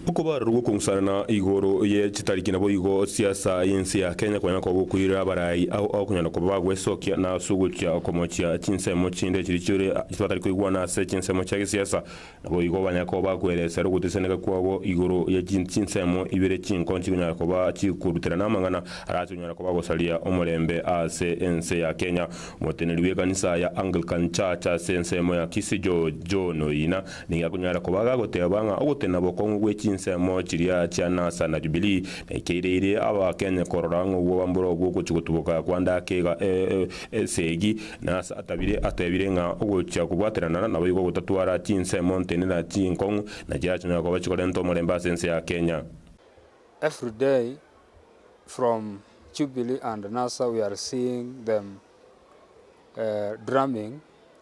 Okobarorwa gw'okong'usanana igoro ye chitariki naboigo siasa y'ense ya Kenya konya kogokoirera abarai ao okonyora koba bagwesokia na ase ogochia komochia chinsemo chinde chiria chire batari koigwana ase chinsemo chia gesiasa naboigo banya koba bakweresera ogotesaneka kwabo igoro ye chinsemo ibere chinko chikonyara koba chikoruterana amang'ana arase konyara koba gosaria omorembe ase ense ya Kenya. Omoteneneri bw'ekanisa ya Anglican Church ase ensemo ya Kisii George John Oina Nigo akonyara koba gagoteba ng'a ogotena bokong'u gwe chinsemo chiria chia Nasa na Jubilee naikeireirie Abaakenya korora ng'a obwabamburo bw'ogochia gotuboka kwa ndakeiga esegi. Nasa atabire atebire ng'a ogochia kobwaterana naboigo gotatwara chinsemo ntenena chinkong'u na chirachonyora koba chikorenta omorembe ase ense ya Kenya. Everyday from Jubilee and Nasa we are seeing them drumming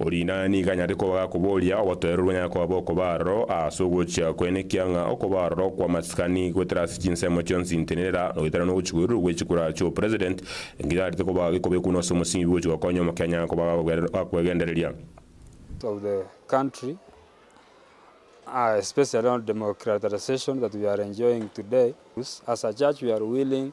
Oria inee nigo anyare koba gakoboria obotoereru bonyare koba bokoba aroro ase ogochia kwaye nekiang'a okoba aroro kw'amasikani goetera ase chinsemo chionsi ntenenera goetera nogochigwererwa gwe chikura chio president nkitarete koba gikobe kunu ase omosingi bwogochia gokonya omokenya akoba gakwegendereria. of the country uh especially on democratization that we are enjoying today, as a church we are willing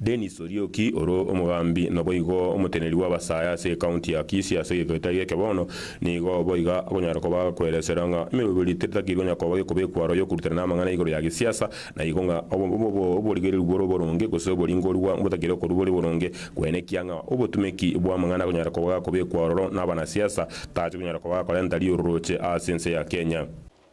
Dennis Orioki ore omogambi naboigo omoteneri bw'abasae ase ekaunti ya Kisii ase egeita gi'eke bono nigo boiga akonyara koba agakweresera ng'a emeroberi tetatagiri konya koba gekobekwa aro yokorutana namang'ana igoro ya gesiasa na igo ng'a oborigereru bore oboronge gose oboringorua mbotakeire okorwa bore boronge kwene ekiang'a obotumeki bw'amang'ana akonyara koba gakobekwa ororo nabanasiasa tache konyara koba gakorenta riororoche ase ense ya Kenya.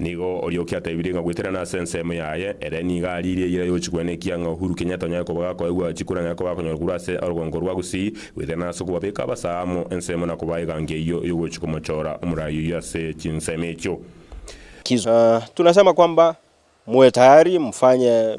Nigo Orioki atebirie ng'a goeterana ase ensemo yaye, ere nigo ariirie eyira yochikwa nekia ng'a Uhuru Kenyatta onyare koba gakoegwa chikura na ekoba akonyora korwa ase orogongo rwa Gusii, goeterana ase okobabeka abasaa amo ensemo na kobaa egangi eyio yogochi komochora omorai oyio ase chinsemo echio. Tunasema kwamba muwe tayari mfanye